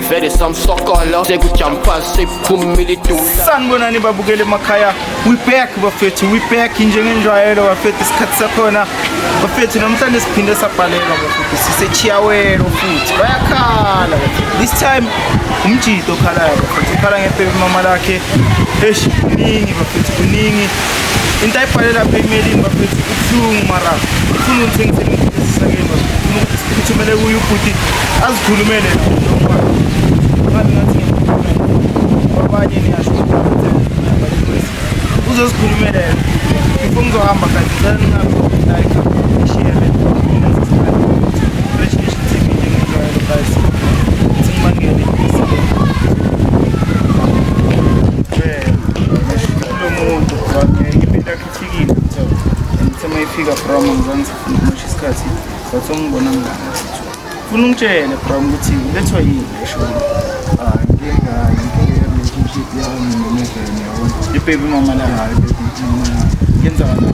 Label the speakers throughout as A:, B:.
A: vele samsokolo sekujampa sekuphumile idula sanibonani babukele
B: emakhaya we back bafethu we back njengenjwayelo bafethu isikhathi sakhona bafethu namhlanje siphinde sabhalelwa bafethu sisechiyawelo futhi bayakhala this time umjito okhalayo bafethu ukhala ngebhebimama lakhe esh kuningi bafethu kuningi into ayibhale lapha emelini bafethu ubuhlungu mara ufuna ungithengisele umfundisisakeni uphithumele kuye ubhuti azikhulumele abanye niyasho uzozikhulumela yena before ngizohamba kanti cela ningaishiele relationship tv njengejwayelo guys ukuthi ngibangele lomuntu impilo yakhe ifikile ngithe uma ifika brom ngizangisafuna ukumosha isikhathi but ongibona ngilana funa ungitshele brom ukuthi ulethwa yini eshona ibebi mama la yenzakala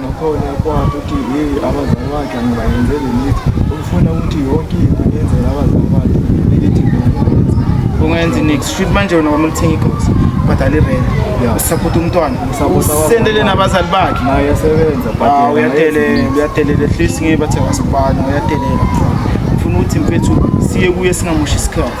B: Ngakhona kwakhe ukuthi yeyi abazali bakhe angibayenzeli lithi ukufuna ukuthi yonke into ngiyenzela abazali bakhe ngithi ungenzi nix shit manje wena kwamele uthenge igosi ubhadale irent usaphutha umntwana usendele nabazali bakhe
C: ah, uyadelela uyadelela
B: at least ngiye bathe wasibana uyadelela funa ukuthi mfethu siye kuye singamoshi isikhathi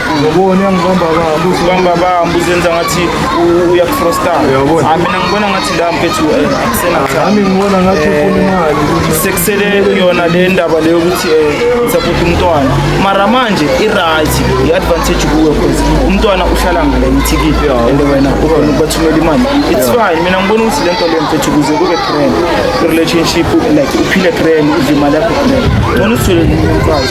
C: Ngobona uyangibamba bambu. Ubamba
B: bambu uzenza ngathi uyakufrosta. Uyabona. Hayi mina
C: ngibona ngathi la
B: mfethu eh, akusena cha. Nami ngibona ngathi
C: Eh, ufuna imali. Sekusele
B: yona le ndaba leyo ukuthi eh support umntwana. Mara manje i right, i advantage kuwe because umntwana uhlala ngale ithikithi and wena ukhona ukubathumela imali. It's fine. Mina ngibona ukuthi lento leyo mfethu kuze kube trend. Relationship like uphile trend, udle imali yakho trend. Ngibona uthole umfazi.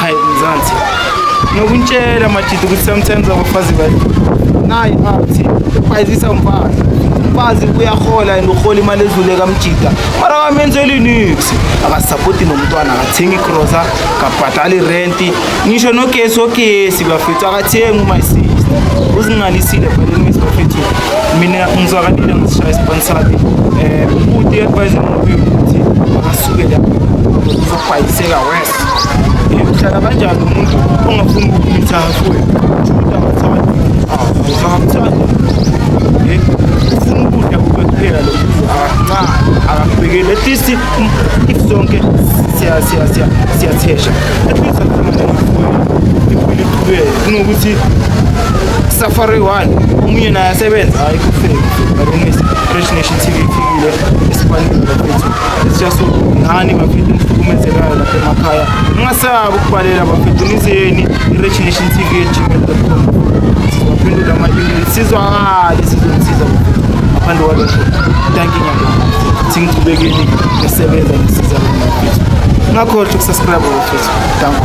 B: Hayi mzansi. Nokuntshela majidi ukuthi sometimes abafazi bathi nayi athi bayizisa umfazi. Umfazi uyahola and uhola imali edlule kamjida. Mara kamenzeli nix. Akasapoti nomntwana akathengi grocer, kabhadali rent. Ngisho nogesi ogesi bafethu akathengi uma isi. uzingalisile bhaleni ngisho futhi mina ngizwakalile ngisishaya isiponsali um eh, ubuti advise ngokuthi akasuke lapho uzobhayiseka wes uhlala kanjani umuntu ongafuni ukumitha kuwe ufuna ukudla kuwe kuphela lo nca akakubekeli at least if sonke siyathesha at least impilo iqhubeke kunokuthi safari one omunye naye asebenza hayi kufeki but fresh nation tv ifikile esifanele bafethu siyasongani bafethu nihlukumezekayo lapha emakhaya ningasabi ukubhalela bafethu nizeni i-regination tv gmail.com sizophendula ama-email sizwakale sizonisiza ngaphandle kwalokho danki nyaka ukuthi ngichubekeni ngisebenza ngisiza bafethu ngakhohlwa ukusubscribe bafethu danko